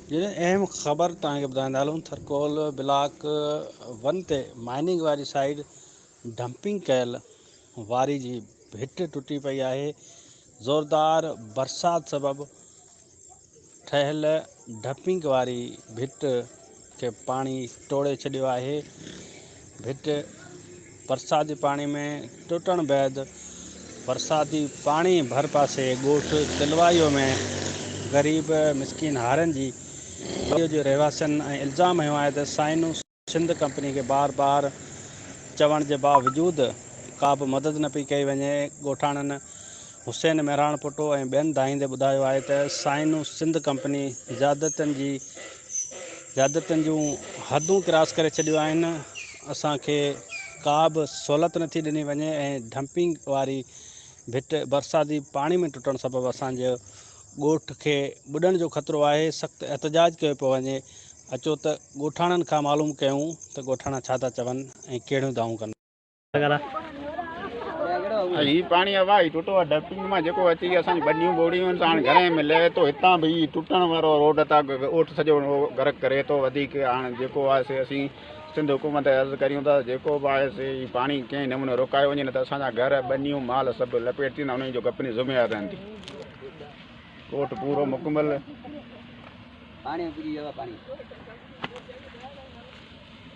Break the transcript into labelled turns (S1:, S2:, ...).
S1: جڏهن اهم خبر توهان کي ٻڌائيندا هلون ٿر ڪول بلاڪ ون تي مائننگ واري سائيڊ ڊمپنگ ڪيل واري جي ڀٽ ٽٽي پئي آهي زوردار برسات سبب ٺهيل ڊپنگ واري ڀٽ کي پاڻي ٽوڙي ڇڏيو آهي. ڀٽ برساتي پاڻي ۾ ٽٽڻ بعد برساتي پاڻي ڀرپاسي ڳوٺ تلوايو ۾ غريب مسڪين هارين جي ڳوٺ جي رهواسين ۽ الزام هنيو آهي ته سائنو سنڌ ڪمپني کي بار بار چوڻ جي باوجود ڪابه مدد نه پئي ڪئي وڃي ڳوٺاڻن حسين مهراڻپوٽو ۽ ٻين دانهيندي ٻڌايو آهي ته سائنو سنڌ ڪمپني زيادتين جي زيادتين جون حدون ڪراس ڪري ڇڏيون آهن اسان کي ڪا به سهولت نٿي ڏني وڃي ۽ ڊمپنگ واري ڀٽ برساتي پاڻي ۾ ٽٽڻ سبب اسان جو ڳوٺ کي ٻڏڻ جو خطرو آهي سخت احتجاج ڪيو پيو وڃي اچو ته ڳوٺاڻن کان معلوم ڪيون ته ڳوٺاڻا ڇا ٿا چون ۽ ڪهڙيون دانهون ڪن
S2: هي پاڻي هوا هي ٽوٽو آ ڊپنگ مان جيڪو اچي گهي اسان جي ٻنيون ٻوڙيون ان سان گهري ۾ لهي تو هتان به هي ٽٽڻ وارو روڊ اتا اوٺ سڄو گرڪ ڪري تو وڌيڪ هاڻ جيڪو آ سي اسين سنڌ حڪومت کي عرض ڪريون ٿا جيڪو به آهي سي هي پاڻي ڪنهن نموني روڪايو وڃي نه ته اسان جا گهر ٻنيون مال سڀ لپيٽ ٿيندا انهن جو ڪپني ذميوار رهندي ڪوٽ پورو مڪمل پاڻي پوري هوا پاڻي